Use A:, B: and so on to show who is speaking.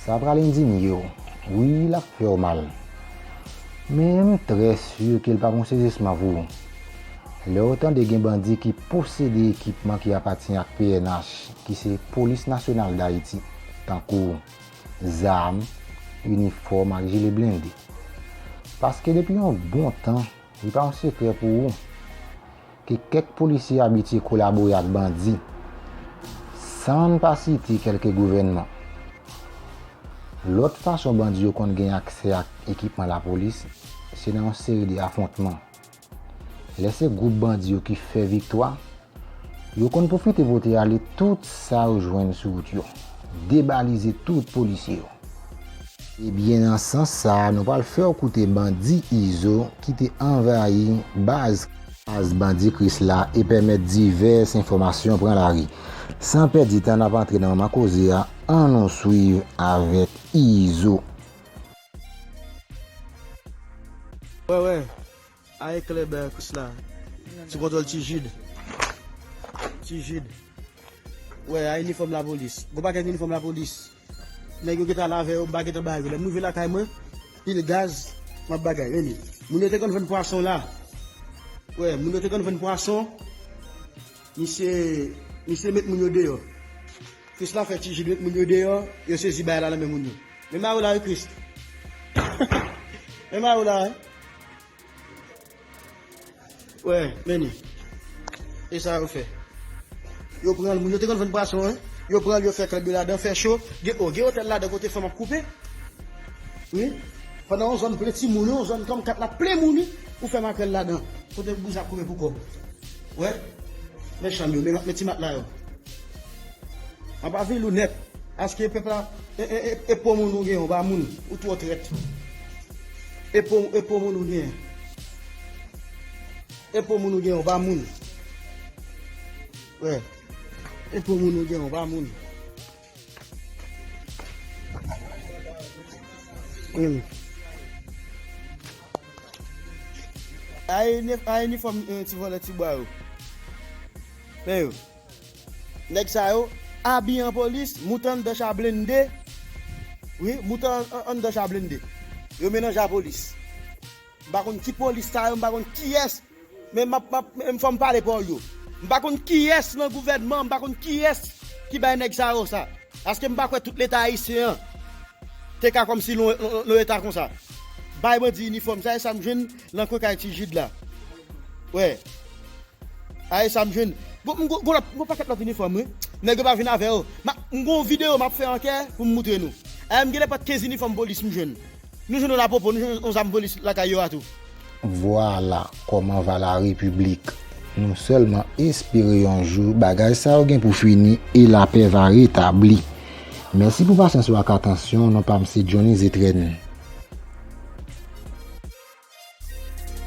A: Sa pral endinye w. Wi, l ap fè w mal. Men, m trè si ke l pa p yon sezisman pou ou. Lè w tande gen bandi ki posede ekipman ki apatyen ak pnh, ki se Polis Nasyonal Dayiti, tankou. zam, inifòm ak jile blende. Paske depi yon bon tan, li pa yon sekrè pou ou, ke kèk polisye abitye kolabore ak bandi, san n pa site kèlke gouvènman. Lòt fason bandi yo konn gen aksè ak ekipman lapolis, se nan yon seri de afwontman. Lè se gwoup bandi yo ki fè viktwa, yo konn pwofite pote ale tout sa yo jwenn sou wout yo, debalize tout polisye yo. Se byen nan sans sa a nou pral fè w koute bandi Izo ki te anvayi baz, Baz bandi Krisla e pèmèt divès enfòmasyon pran lari. San pèdi tan n ap antre nan manman koze a, an nou swiv avèk Izo.
B: Wè wè, ae klè bè kous la, sou kontwòl Ti Jid. Ti Jid. Wè, ae inifòm lapolis. Gwo pakèt inifòm lapolis. Nèg yo gen ta lave yo, m pa gen tan ba yo. Lè m rive lakay mwen, pil gaz, m ap bagay. Remi, moun yo te konn vann pwason la. Wè, moun yo te konn vann pwason. Misye, misye met moun yo deyò. Chris la fè tijil met moun yo deyò yo sezi bagay la nan men moun yo men mariw la wi chris men mariw la wi wè men li e sa yo fè yo pranl moun yo te konn vann pwason wi yo pranl yo fè klèb yo ladan fè cho gen o gen otèl ladan kote fanm ap koupe wi pandan yon zòn plen timoun yon zòn kòm kat la plen moun wi ou fè makrèl ladan kote bouzin ap koupe pou kòb wè men chanm yo men ti matla yo. Anba vil ou nèt. Aske pèp la e po moun ou gen yon ba moun ou twò trèt e po e po moun ou gen e po moun ou gen yon ba moun wè e po moun ou gen yon ba moun hmm. a inifòm ti vòlè ti bwa yo pè yo Nèg sa yo abiye an polis, moute anndan cha blende, wi, moute anndan cha blende. Yo melanje a polis. M pa konn ki polis sa yo, m pa konn kiyès, men map, map, men fò m pale pou yo. M pa konn kiyès nan gouvènman, m pa konn kiyès ki bay nèg sa yo sa. Paske m pa kwè tout leta ayisyen an te ka kòmsi l on eta konsa. Bay bandi inifòm sa, e sa m jwenn. Nan kwen kay ti Jid la wi. Ae sa m jwenn. Bon m gon lòt m gon pakèt lòt inifòm wi. Nèg yo pa vin avè yo. M gon videyo m ap fè ankè pou m moutre nou. Ae m genlè pran 15 inifòm polis m jwenn. Nou jwenn yon lapopo nou jwenn yon zam polis lakay yo a tou. Vwala
A: kòman va la repiblik. Nou sèlman espere yon jou bagay sa yo gen pou fini e lapè va retabli. Mèsi pou pasyans ou ak atansyon w non pam se Johnny Zétrenne.